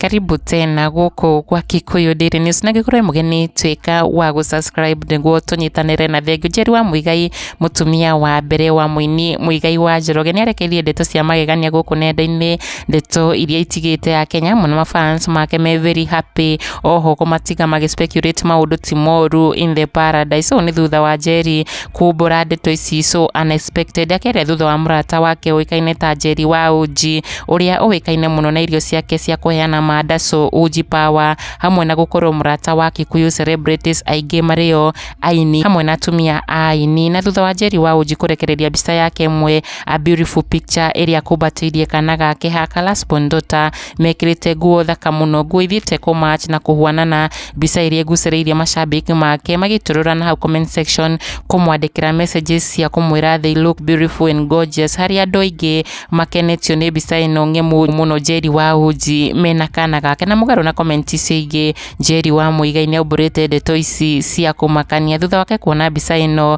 karibu tena gũkũ gwa Kikuyu Daily News na ngĩkorwo mũgeni tuĩka wa gũ subscribe nĩguo tũnyitanĩre na thengiũ Njeri wa Mũigai mũtumia wa mbere wa mũini Mũigai wa Njoroge nĩarekeirie ndeto cia magegania gũkũ nenda-inĩ ndeto iria itigĩte ya Kenya mũno mafans make me very happy oho kũmatiga magĩ speculate maũndũ ti moru in the paradise ũũ nĩ thutha wa Njeri kumbũra ndeto ici so unexpected akerĩa thutha wa mũrata wake ũĩkaine ta Njeri wa Uji ũrĩa ũĩkaine mũno na irio ciake cia kũheana manda so Uji power hamwe na gũkorwo mũrata wa Kikuyu celebrities aingĩ marĩo aini hamwe na atumia a aini na thutha wa Njeri wa Uji kũrekereria mbica yake ĩmwe A beautiful picture ĩrĩa kumbatĩirie kana gake ha Kalasbon Dota mekĩrĩte nguo thaka mũno, nguo ithiĩte kũ match na kũhuanana, mbica ĩrĩa ĩgucĩrĩirie macambĩki make magĩtũrũra na hau comment section kũmwandĩkĩra messages cia kũmwĩra they look beautiful and gorgeous, harĩ andũ aingĩ makenetio nĩ mbica ĩno ng'emu mũno Njeri wa Uji mena kana gake, na mũgarũ na comment icio ingĩ Njeri wa Muigai nĩaumbũrĩte ndeto ici cia kũmakania thutha wake kuona mbica ĩno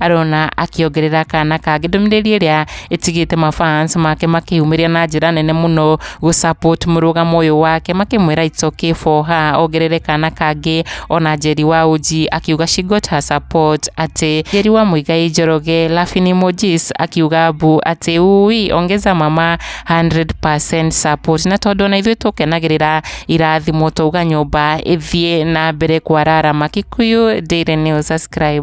arona akĩongerera kana kangĩ ndũmĩrĩri ĩrĩa ĩtigĩte mafans make makĩyumĩria na njĩra nene mũno gũ support mũrũgamo ũyũ wake makĩmwĩra it's okay for her ongerere kana kangĩ ona Njeri wa Uji akiuga she got her support atĩ Njeri wa Muigai Njoroge laughing emojis akiuga bu atĩ ui ongeza mama 100% support na tondũ ona ithuĩ tũkenagĩrĩra irathimo twauga nyũmba ĩthiĩ na mbere kwararama Kikuyu Daily News subscribe